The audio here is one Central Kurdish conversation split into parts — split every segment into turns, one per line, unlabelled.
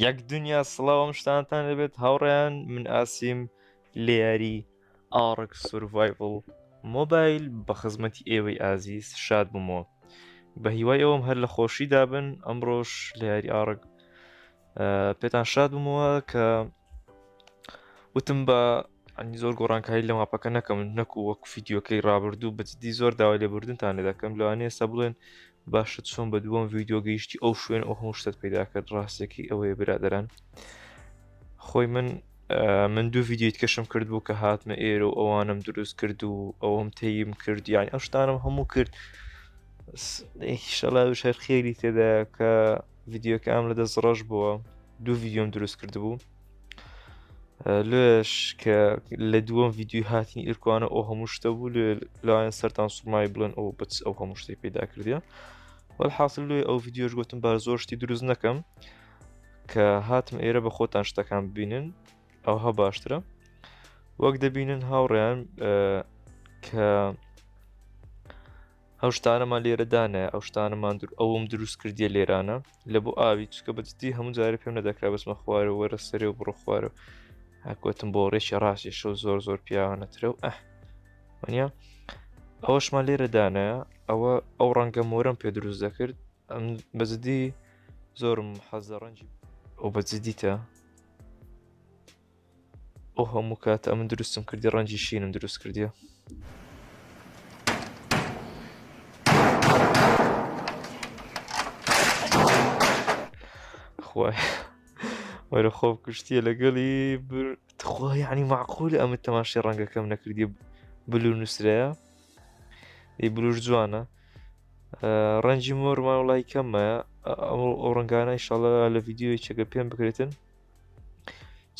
یەک دنیا سڵاوم شتانتان دەبێت هاوڕێیان من ئاسیم لێیاری ئاڕک سورڤایڤل مۆبایل بە خزمەتی ئێوەی ئازیز شاد بوومەوە بە هیوای ئەوم هەر لە خۆشی دابن ئەمڕۆش لێیاری ئاڕک پێتان شاد بوومەوە کە وتم بە ئەنی زۆر گۆڕانکاری لە ماپەکە نەکەم نەکو وەک فیددیوکەی ڕابردوو بەجددی زۆر داوای لێبوردنتان لە دەکەم لەوانێ ئێستا بڵێن باشە چۆن بە دووەم ویددیو گەیشتی ئەو شوێن ئەو هەموو شتت پیدا کرد ڕاستێکی ئەوەیە برادران خۆی من من دوو ویددیویت کەشم کرد بوو کە هاتمە ئێرە و ئەوانم دروست کرد و ئەوەم تەیم کرد یانی ئەو شتانم هەموو کرد شەڵا شەر خێری تێدا کە ویددیوکەم لە دەست ڕەش بووە دوو ویددیۆم دروست کرد بوو لێش کە لە دووەم یددیوی هاتنی ئیرکوانە ئەو هەموو شتە بوو لێ لایەن سەران سومای بڵێن ئەو بچ ئەو هەموو شتی پیدا کردە وەل حاصل لێ ئەو یددیوش گوتم بار زۆر شتی دروست نەکەم کە هاتم ئێرە بە خۆتان شتەکان ببینن ئەوها باشترە وەک دەبینن هاوڕیان کە ئەو شتانەمان لێرە دانایە ئەو شتانەمان دوور ئەوم دروست کردیە لێرانە لە بۆ ئاوی چکە بەجددی هەموو جارە پێم نەدەکرا بەسمە خوارە وەرە سەرێ و بڕۆ خوارە هەکوتم بۆ ڕێکی ڕاستێ شەو زۆر زۆر پیاوانەترە و ئەه وەنیا ئەوەشمان لێرە دانایە ئەوە ئەو ڕەنگە مۆرم پێ دروست دەکرد ئەم بەجددی زۆرم حەزە ڕەنجی ئەو بەجددیتە ئەو هەموو کات ئەمن دروستم کردی ڕەنجی شینم دروست کردیە خوای وەرە خۆ کوشتیە لەگەڵی تخوا یعنی معقول ئەمە تەماشی ڕەنگەکەم نەکردی بلو نووسرەیە ی بلوش جوانە ڕەنجی مۆرمان وڵی کەممە ئەو ڕنگانە ئیشاڵە لە یددیوی چەکە پێم بکرێتن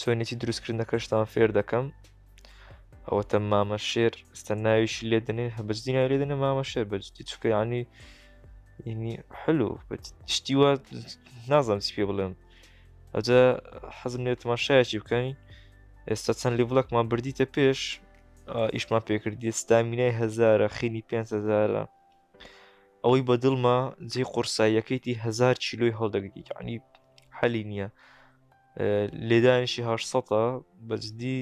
چۆنێتی دروستکردنەکەشتان فێر دەکەم ئەوەتە مامە شێر ستە ناویشی لێ دەنێن هە بەجدی ناوی لێ دەنێ مامە شێر بەجدی چکە ینی ینی حلو شتی وا نازانم پێ بڵێم ئەجا حەزم لێ تماشایەکی بکەین ئێستا چەند لیڤڵکمان بردیتە پێش ئیشمان پێکردی ستامینای هزارە خینی 5هزارە ئەوەی بە دڵمە جێ قورساییەکەیتی هزار چیلوی هەڵدەگری عنی حەلی نییە لێدانیشی هە سەە بەجددی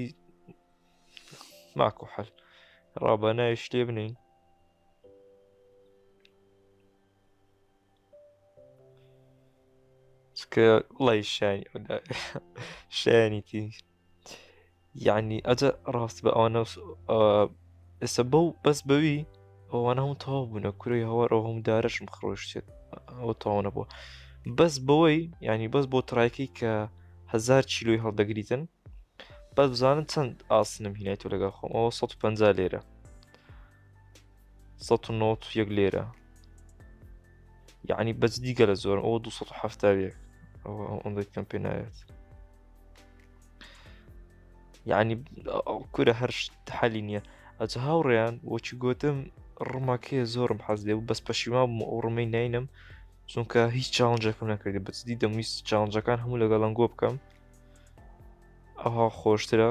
ماکو حەل ڕابە ناویش لێ بنین چکە وڵی شانی شایانی تینکرد یعنی ئەجە ڕاست بە ئەوانە ئێستا بە و بەس بەوی ئەوانە هەموو تەواو بوونە کوری هەوار ئەو هەموو دارەشم خڕۆشتێت ئەو تاوانە بووە بەس بەوەی ینی بەس بۆ تڕایکەی کە هزار چیلوی هەڵدەگریتن بەس بزانن چەند ئاسنم هینای تۆ لەگەڵ خۆم ئەوە 150 لێرە سەد و نەوەد و یەک لێرە یعنی بەس دیگە لە زۆر ئەوە 1970 ئەوەندەی پێم پێ ناوێت یعنی کورە هەر حەلی نییە ئەجە هاوڕێیان وەچی گوتم ڕماکەیە زۆرم حەز لێ و بەس پەشیما بووم ئەو ڕمەی نینم چونکە هیچ چاونجەکەم نەکردی بەچدی دەمویست چاونجەکان هەموو لەگەڵ لەنگۆ بکەم ئەها خۆشترە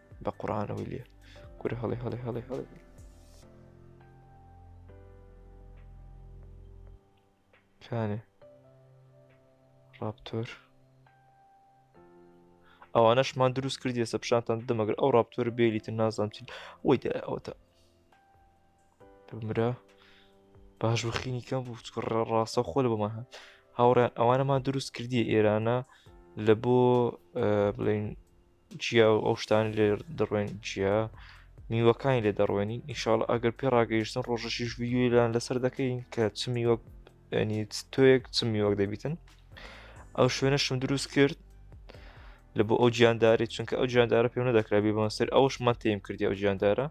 بە قڕانەوەی لێ کورە هەڵێ هەڵێ هەڵێ هەڵێ کانێ ڕاپتۆر ئەوانەشمان دروست کردی ئێستا پیشانتان دەمەگەر ئەو ڕاپتۆر بێلیتن نازانچین ئەوی دا ئەوتە مرا باش بخینی کەم بوو ڕاستە خۆل بەمان هەن هاوڕێن ئەوانەمان دروست کردی ئێرانە لە بۆ بڵین جیا و ئەو شتانی لێ دەڕوێن جیا میوەکانی لێ دەڕوێنین ئیشاڵ ئەگەر پێ ڕاگەیشتن ڕۆژەشیش ویددیویلان لەسەر دەکەین کە چ میوە تۆیەک چ میوەک دەبیتن ئەو شوێنەشم دروست کرد لە بۆ ئەو گیانداری چونکە ئەو گیاندارە پێم نەدەکرابی بەمەسەر ئەوش مەتیم کردی ئەو گیاندارە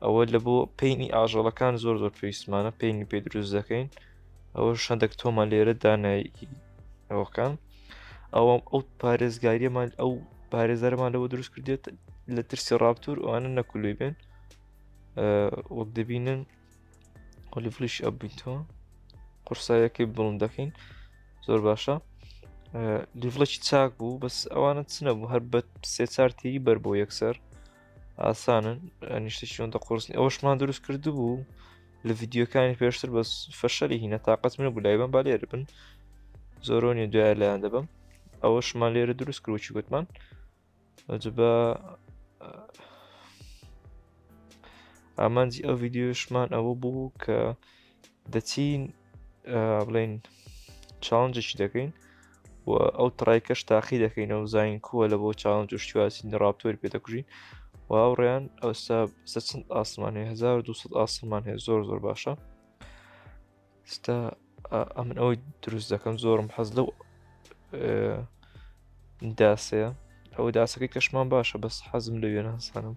ئەوە لە بۆ پینی ئاژەڵەکان زۆر زۆر پێویستمانە پینی پێ دروست دەکەین ئەوە شەندەک تۆمان لێرە دانایی ئەوەکان ئەوەم ئەو پارێزگاریەمان ئەو پارێزەرمان لەوە دروست کردێت لە ترسی ڕاپتور ئەوانە نەکولوی بێن وەک دەبینن ئۆلیفلیش ئەبیتەوە قورسایەکەی بڵند دەکەین زۆر باشە لیڤڵێکی چاک بوو بەس ئەوانە چنە بوو هەر بە سێ چارتێری بەر بۆ یەکسەر ئاسانن نیشتێکی ئەوەندە قرسنی ئەوەشمان دروست کرد بوو لە ڤیددیوکانی پێشتر بەس فەشەلی هینە تااقەت منە بوو لایبم با لێرە بن زۆرۆنی دوای لایەن دەبم ئەوەشمان لێرە دروست کروچی گوتمان بە ئامانجی ئەو ڤیددیوشمان ئەوە بوو کە دەچین بڵین چاونجێکی دەکەین و ئەو تڕایکەش تاقی دەکەینەوە و زین کووە لە بۆ چاون جوشتواسین ڕاپتۆری پێ دەکوژین و هاوڕێیان ئەوسا سە چەند ئاسمان هەیە 1200 ئاسمان هەیە زۆر زۆر باشە ستا ئەمن ئەوەی دروست دەکەم زۆرم حەز لەو داسەیە ئەو داسەکەی کەشمان باشە بەس حەزم لە وێنە هەسانم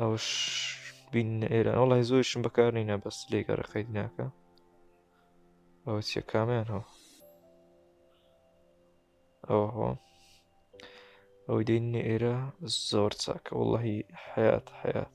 ئەوش بین ئێران وڵی زۆرشم بەکار نینە بەس لێگە ڕقەی ناکە ئەوە چیە کامیان هەو ئەوە هۆ ئەو دین ئێرە زۆر چاکە وڵی حیات حیات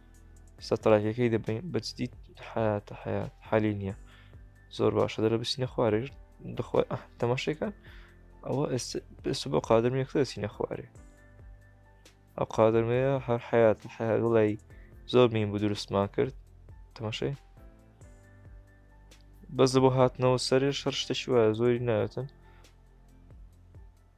سترایکەکەی دەبین بەجدی حیات حیات حالی نییە زۆر باشە دەرە بچینە خوارێش دخوای تەماشێکان ئەوە ئێستا بۆ قادرم یەکتر دەچینە خوارێ ئەو قادرمەیە هەر حیات حیات وڵی زۆر مین بوو دروستمان کرد تەماشەی بەس بۆ هاتنەوە سەرێ شەر شتەشی وایە زۆری ناوێتن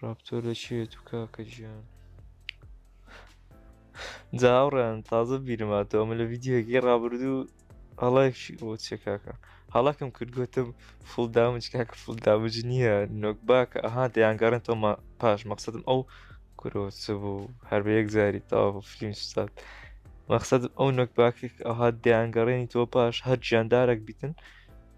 ڕاپتۆر لە چی هەیە تو کاکە گیان جا هاوڕێیان تازە بیرم هاتەوە ئەمە لە ڤیدیۆگەی ڕابردوو هەڵایشی بۆ چێ کاکە هەڵەکەم کرد گوتم فول دامج کاکە فول دامج نییە نۆک باکە ئەها دەیانگەڕێن تۆمە پاش مەقصدم ئەو کرۆچ بوو هەر بە یەک جاری تاوا بۆ فلیم سوستات مەقصدم ئەو نۆک باکێک ئەها دەیانگەڕێنی تۆ پاش هەر گیاندارێک بیتن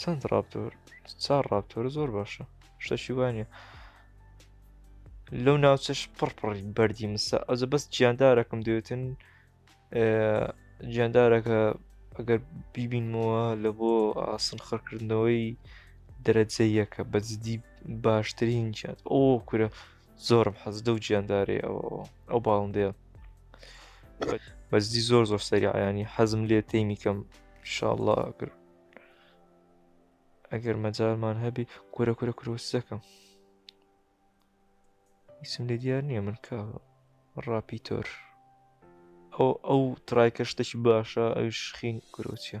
چەند ڕاپتۆر چار ڕاپتۆر زۆر باشە شتەشی وانە لەو ناوچەش پڕپڕی بەردی مسا ئەوجە بەس گیاندارەکەم دەوێتن گیاندارەکە ئەگەر بیبینمەوە لە بۆ ئاسن خڕکردنەوەی دەرەجەیەکە بەجددی باشترین جات ئەو کورە زۆرم حەز دەو گیاندارێ ئەو باڵندەیە بەزدی زۆر زۆر سەریعیانی حەزم لێ تێمی کەم شاءله ئەگر ئەگەر مەجارمان هەبی کورە کورە کرۆسەکەم ئیسم لێ دیار نییە من کا ڕاپیتۆر ئەو ئەو ترایکە شتێکی باشە ئەوش خین کرۆچە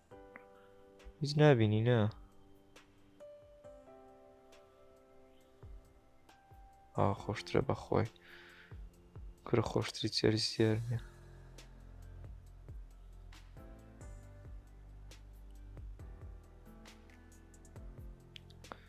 هیچ نابینی نا ئا خۆشترە بەخۆی کورە خۆشتری چێری سێر نیە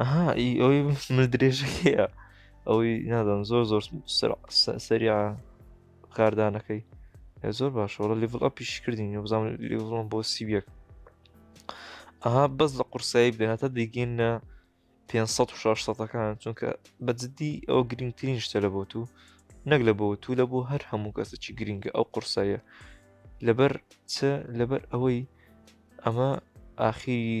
ئەها ئی ئەوەی من درێژەکەیە ئەوەی نادەم زۆر زۆر سەریا کاردانەکەی زۆر باشەوە لیڤڵ ئەپیش کردین بزان لیڤڵم بۆ سیبیەک ئەها بەس لە قورسایی بدەهاتە دەیگەینە 500 و 600ەکان چونکە بەجددی ئەو گرنگترین شتە لە بۆ تو نەک لە بۆ تو لە بۆ هەر هەموو کەسەکی گرنگە ئەو قورسایە لەبەر چ لەبەر ئەوەی ئەمە ئاخیری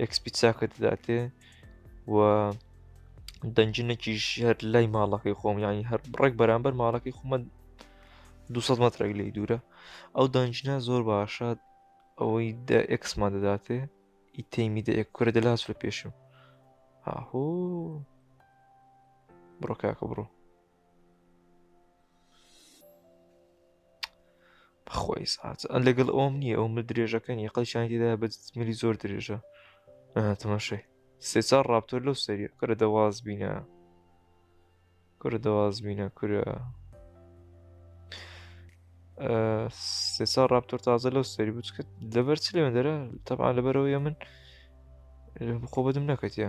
ئەکسپی چاکە دەداتێ و دەنجینەکیش هەر لای ماڵەکەی خۆم ینی هەر ڕێک بەرامبەر ماڵەکەی خۆمە 200 مترێک لی دوورە ئەو دەنجینە زۆر باشە ئەوەی دە ئەکسمان دەداتێ ئی تەیمی دە کورە دەلاس لە پێشم هاهۆ بڕۆ کاکە بڕۆ خۆی ساعت ئە لەگەڵ ئەوم نییە ئەو من درێژەکە نیە قەلشانی تێدا بە ملی زۆر درێژە تەماشای سێ چار ڕاپتۆر لەو سەریە کەرە دەواز بینە کورە دەواز بینە کورە سێ چار ڕاپتۆر تازە لەو سەری بچ کرد لەبەر چ لێوێن دەرە تەبان لەبەرەوەی من خۆ بەدم نەکەتە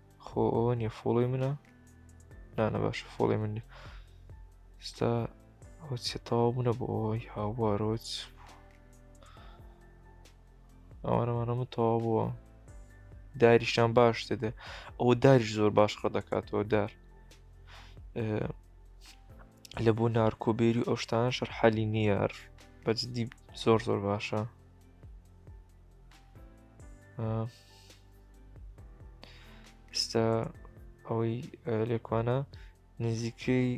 خۆ ئەوە نیە فۆڵۆی منە نانە باشە فۆڵی من ستا ئەوچە تەواو بوونە بۆ ئەوەی هاوارۆچ ئەوانەمانە من تەواو بووە داریشتان باش دەدە ئەوە داریش زۆر باش ڕە دەکاتەوە دار لە بۆ نارکۆبێری ئەو شتان شەر حەلی نیار بەجددی زۆر زۆر باشە ئستا ئەوەی لێکوانە نزیکەی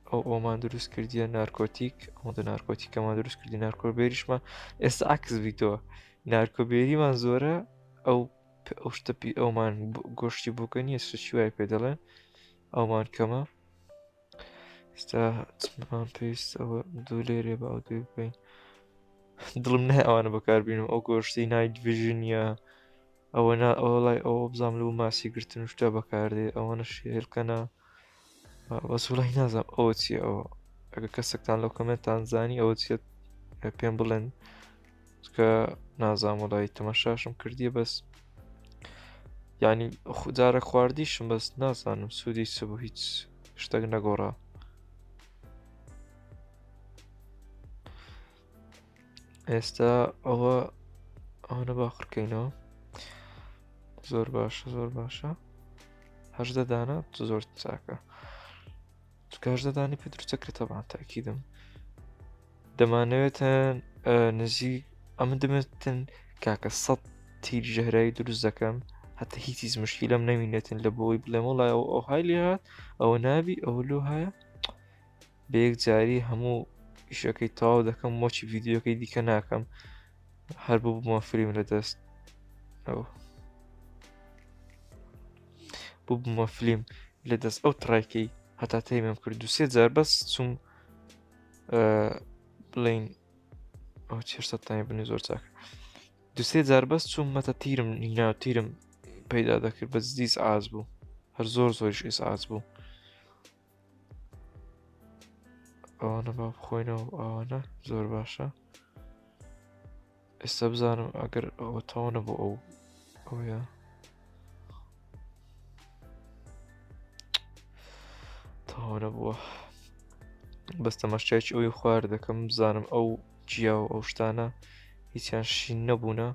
ئەو ئەومان دروست کردیە نارکۆتیک ئەو دە نارکۆتیکەمان دروست کردی نارکۆبێریشمە ئێستا عکس بیتەوە نارکۆبێریمان زۆرە ئەو ئەو شتەپی ئەومان گۆشتی بووکە نیە سوچی وای پێ دەڵێن ئەومان کەمە ستا چمان پێویست ئەوە دوو لێرێ بە ئەو دوێ بکەین دڵم نای ئەوانە بەکاربیینم ئەو گۆشتی نایت ڤژنیا ئەوە نا ئەوە لای ئەوە بزانام لەو ماسی گرتن شتە بەکاردێ ئەوەنە شێلکەنا بەسوڵی نازانم ئەوە چی ئەوە ئەگە کەسێکتان لەو کەمێتان زانی ئەوە چێت پێم بڵێن چکە نازام وڵی تەمەشاشم کردیە بەس ینی جارە خواردیشم بەس نازانم سوودی چ بوو هیچ شتێک نەگۆڕا ئێستا ئەوە ئەوەنە باخڕکەینەوە زۆر باشە زۆر باشە هەشدە دانە زۆر چاکە کاش دەدانی پێ دروستە کرێت تەبان تاکیدم دەمانەوێتن نزی ئەمە دەمێتن کاکە سەد تیر ژەهرایی دروست دەکەم هەتا هیچیز مشکی لەم نەمینێتن لە بۆی بڵێم وڵای ئەو ئەو های لێ هاات ئەوە نابی ئەوە لۆ هەیە بەیەک جاری هەموو ئیشەکەی تاو دەکەم مۆچی ڤیددیوەکەی دیکە ناکەم هەر بوو بمە فریم لە دەست ئەو ببوومە فلیم لە دەست ئەو تڕێکەی هەتا تەیمم کرد دو سێ جار بەس چوم بڵین ئەو چێشتانی بنی زۆر چاک دوسێ جار بەس چوم مەتە تیرم نیناو تیرم پەیدا دەکرد بە دیس ئاز بوو هەر زۆر زۆریش ئێس ئاز بوو ئەوانە با بخۆینەوە ئەوانە زۆر باشە ئێستا بزانم ئەگەر ئەوە تاوانە بۆ ئەو ئەوە تاوانە بووە بەس تەماشایکی ئەوی خوار دەکەم بزانم ئەو جیا و ئەو شتانە هیچیان شین نەبوونە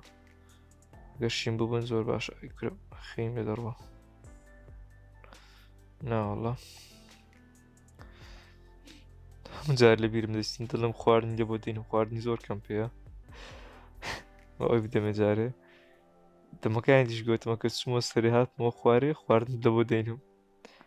گەر شین ببن زۆر باش ئەیکرە خیم لێ دەڕوە ناوەڵە جار لە بیرم دەستین دڵم خواردن لە بۆ دین و خواردنی زۆر کەم پێەیە ئەوی بدەمە جارێ دەمەکانی دیش گوتمە کە چمە سەری هاتمەوە خوارێ خواردن لە بۆ دەینم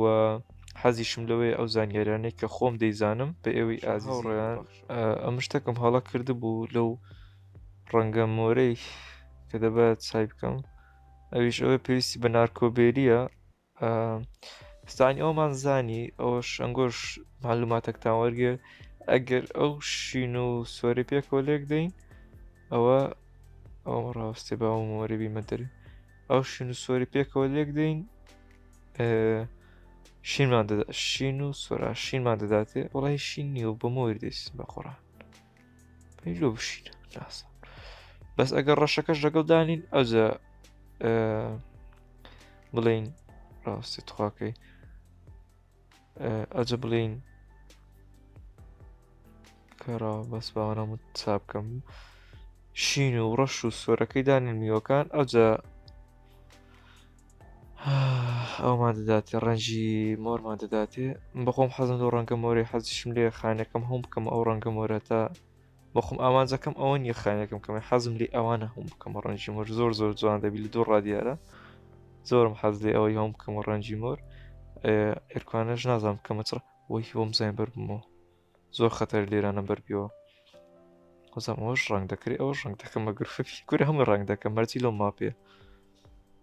و حەزیشم لەوەی ئەو زانیاریانەی کە خۆم دەیزانم بە ئێوەی ئازیڕیان ئەم شتەکەم هەڵە کردبوو لەو ڕەنگە مۆرەی کە دەبات سای بکەم ئەویش ئەوە پێویستی بە نارکۆبێریە ستانی ئەومان زانی ئەوە شەنگۆش معلوماتەکتان وەرگێ ئەگەر ئەو شین و سۆری پێکەوە لێک دەین ئەوە ئەوم ڕاستێ باوم وەرەبی مەدەری ئەو شین و سۆری پێکەوە لێک دەین شینمان دەدا شین و سۆرا شینمان دەداتێ وڵی شین نیە و بە مۆر دەیست بە قڕان پێلۆ بشین ناسە بەس ئەگەر ڕەشەکەش لەگەڵ دانین ئەوجە بڵین ڕاستی تخواکەی ئەجە بڵین کەرا بەس باوەنامە چاپکەم شین و ڕەش و سۆرەکەی دانێن میوەکان ئەوجە ئەومان دەداتێ ڕەنجی مۆرمان دەداتێ بەخۆم حەزم و ڕەنگە مۆری حەزیشم لێ خانەکەم هەم بکەم ئەو ڕەنگە مۆرە تا بەخۆم ئامانجەکەم ئەوە نیە خانەکەم کەمە حەزم لی ئەوانە هەم بکەم ڕەنجی مۆر زۆر زۆر جوان دەبی لە دوو ڕادیارە زۆرم حەز لێ ئەوەی هەم بکەم ڕەنجی مۆر ئێرکانەش نازانم کەمە چڕ وەی بۆم زین بەر بمەوە زۆر خەتەر لێرانە بەربیەوە خۆزم ئەوش ڕنگ دەکری ئەوش ڕنگ دەکەم بە گرفەفی کور هەمە ڕنگ دەکەم مەرجی لۆ ماپێ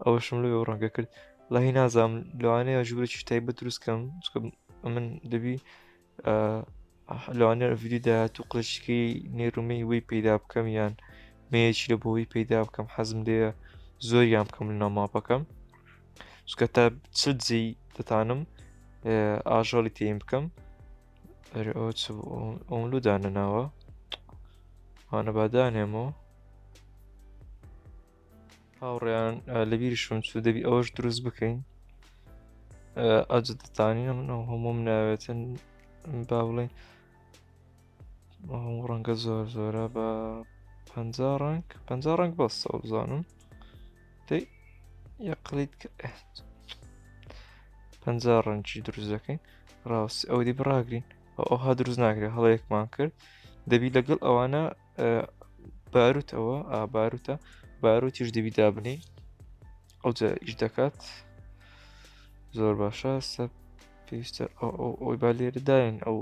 ئەوشم لێ ڕەنگە کرد لای نازام لەوانەیە ژوورێکی تایبەت دروستکەم من دەبی لەوانەیە ڤیدیو داهاتوو قلشکی نێرومەی وی پەیدا بکەم یان مەیەکی لە بۆی پەیدا بکەم حەزم لێ زۆریان بکەم لە ناماپەکەم چکە تا چ جێی دەتانم ئاژەڵی تێم بکەم ئۆملودانە ناوە هاانە بادانێمەوە هاوڕێیان لەبیریشم چوو دەبی ئەوەش دروست بکەین ئەجدتانە منەوە هەموم ناوێتن با بڵێن هەموو ڕەنگە زۆر زۆرە بە پ ڕنگ پ ڕنگ بەستە بزانم دەی یەقلیت پ ڕەنجی دروست دەکەین ڕاست ئەو دی بڕاگرین ئەوها دروست ناکرێت هەڵەیەکمان کرد دەبی لەگەڵ ئەوانە باروت ئەوە ئاباروتە باروتیش دەبی دابنی ئەوجا ئیش دەکات زۆر باشە سە پێویستە ئەوی با لێرەداین ئەو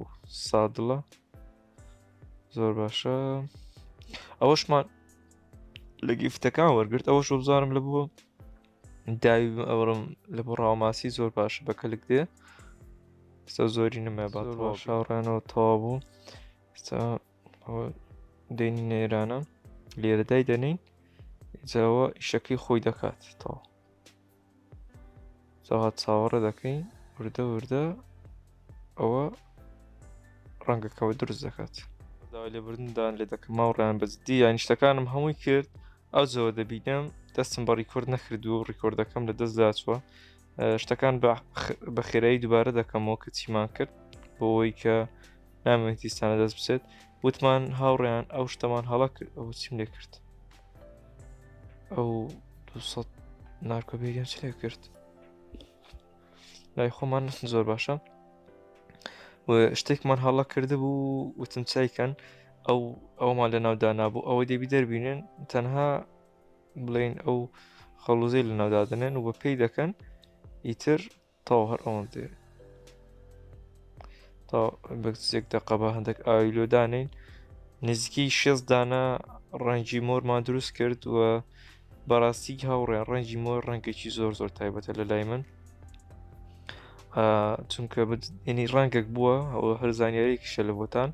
سادڵە زۆر باشە ئەوەشمان لە گیفتەکان وەرگرت ئەوەش بزانم لە بووە داوی ئەوڕم لە بۆ ڕاوماسی زۆر باش بە کەلک دێ ستا زۆری نمە با شاڕێنەوە تەوا بوو ستا ئەوە دێنی نێرانە لێرەدای دەنین جاوە ئیشەکەی خۆی دەکات تەوە جاها چاوەڕە دەکەین وردە وردە ئەوە ڕەنگەکەەوە دروست دەکات داوای لێبوردندان لێ دەکەم ماوڕیان بەجددی یان شتەکانم هەمووی کرد ئەو جەوە دەبینم دەستم بە ڕیکۆرد نەکردو ڕیکۆردەکەم لە دەستداچوە شتەکان بە خێرایی دووبارە دەکەمەوە کە چیمان کرد بۆەوەی کە نامێتیستانە دەست بچێت وتمان هاوڕێیان ئەو شتەمان هەڵک ئەو چیم لێ کرد ئەو نارکۆبیریان چ لێ کرد لای خۆمان نستن زۆر باشە شتێکمان هەڵە کرد بوو وتم چایکەن ئەو ئەومان لە ناودانا بوو ئەوەی دەبی دەربینن تەنها بڵێن ئەو خەڵوزەی لە ناودادنێن و بە پێی دەکەن ئیتر تاو هەر ئەوەن دێ تا بەسێک دەقەبە هەندێک ئایلۆدانین نزیکی شێز دانە ڕەنگی مۆرمان دروست کرد و بەڕاستی هاوڕێن ڕەنگی مۆر ڕەنگێکی زۆر زۆر تایبەتە لە لای من و چونکە ینی ڕەنگێک بووە ئەوە هەر زانیارێکیشە لە بۆتان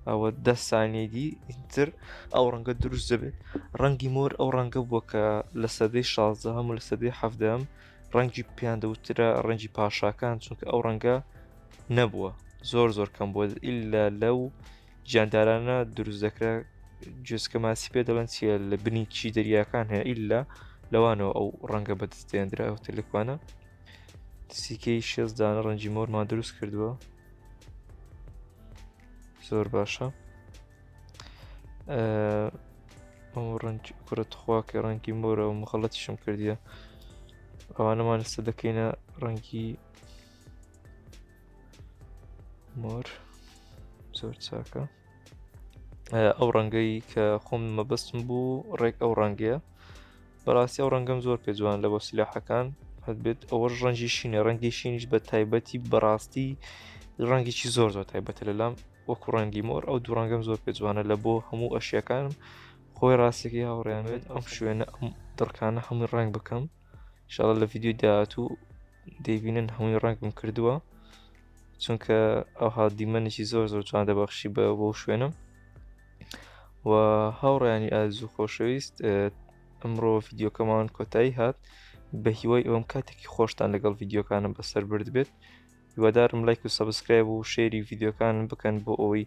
ئەوە دە سانیدی ئینتر ئەو ڕەنگە دروست دەبێت ڕەنگی مۆر ئەو ڕەنگە بووە کە لە سەدەی شازدە هەموو لە سەدەی حەفدەم ڕەنگی پیاندەوترە ڕەنگی پاشاکان چونکە ئەو ڕەنگە نەبووە زۆر زۆر کەم بووە ئللا لەو جاندارانە دروست دەکرا جسکە ماسی پێ دەڵێن چیە لە بنی چی دەریاکان هەیە ئللا لەوانەوە ئەو ڕەنگە بەدەستێندرا ئەو تەلکوانە سیکەی شێزدانە ڕەنجی مۆرمان دروست کردووە زۆر باشە ئەم ڕنج کوڕە تخوا کە ڕەنگی مۆرە و مخەڵەتیشم کردیە ئەوانەمان لەسە دەکەینە ڕەنگی مۆر زۆر چاکە ئەو ڕەنگەی کە خۆم مەبەستم بوو ڕێک ئەو ڕەنگەیە بەڕاستی ئەو ڕەنگەم زۆر پێ جوان لە بۆ سلاحەکان هەبێت ئەوە ڕەنجی شینە ڕەنگی شینیش بە تایبەتی بەڕاستی ڕەنگێکی زۆر زۆر تایبەتە لەلام وەکو ڕەنگی مۆر ئەو دوو ڕەنگەم زۆر پێ جوانە لە بۆ هەموو ئەشیەکانم خۆی ڕاستێکی هاوڕێنێت ئەم شوێنە ئەم دڕکانە هەمووی ڕنگ بکەم شڵە لە ڤیددیو داهاتوو دەیبینن هەمووی ڕەنگم کردووە چونکە ئەوها دیمەنێکی زۆر زۆر جوان دەبەخشی بە بۆ شوێنم و هاوڕیانی ئاز و خۆشەویست ئەمڕۆ ڤیددیوکەمان کۆتایی هات بە هیوای ئەوم کاتێکی خۆشتان لەگەڵ ڤیددیوکانم بەسەر برد بێت هیوادارم لایک و سەبسکرایب و شێری ڤیددیوکانم بکەن بۆ ئەوەی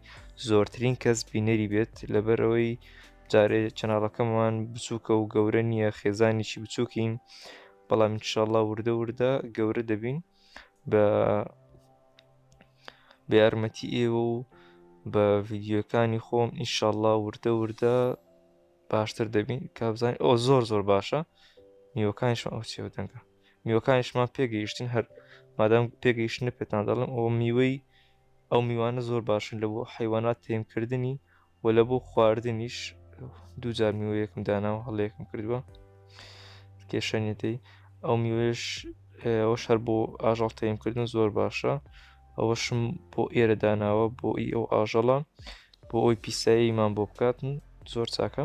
زۆرترین کەس بینەری بێت لەبەرەوەی جارێ چەناڵەکەمان بچووکە و گەورە نییە خێزانێکی بچووکین بەڵام انشاءله وردە وردە گەورە دەبین بە بە یارمەتی ئێوە و بە ڤیددیوەکانی خۆم ئینشاءله وردە وردە باشتر دەبین کابزانین ئەو زۆر زۆر باشە نیوەکانیشم ئەو چێوە دەنگە میوەکانیشمان پێگەیشتن هەر مادام پێگەیشتنە پێتان دەڵم ئەوە میوەی ئەو میوانە زۆر باشن لە بۆ حیوانات تێمکردنی و لە بۆ خواردنیش دووجار میوەیەکم داناوە هەڵەیەکم کردووە کێشەنیەتی ئەو میوێش ئەوە شەر بۆ ئاژەڵ تێمکردن زۆر باشە ئەوەشم بۆ ئێرە داناوە بۆ ئی ئەو ئاژەڵە بۆ ئەوی پیساییمان بۆ بکاتن زۆر چاکە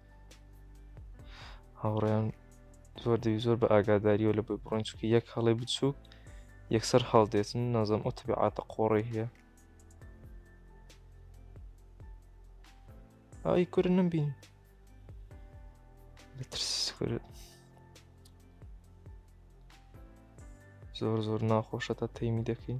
هاوڕێیان زۆر دەوی زۆر بە ئاگاداریەوە لە بۆی بڕۆین چکە یەک هەڵێ بچووک یەکسەر هەڵدێتن نازم ئەو تبعاتە قۆڕی هەیە ئای کورە نەمبین بەترس کورە زۆر زۆر ناخۆشە تا تەیمی دەکەین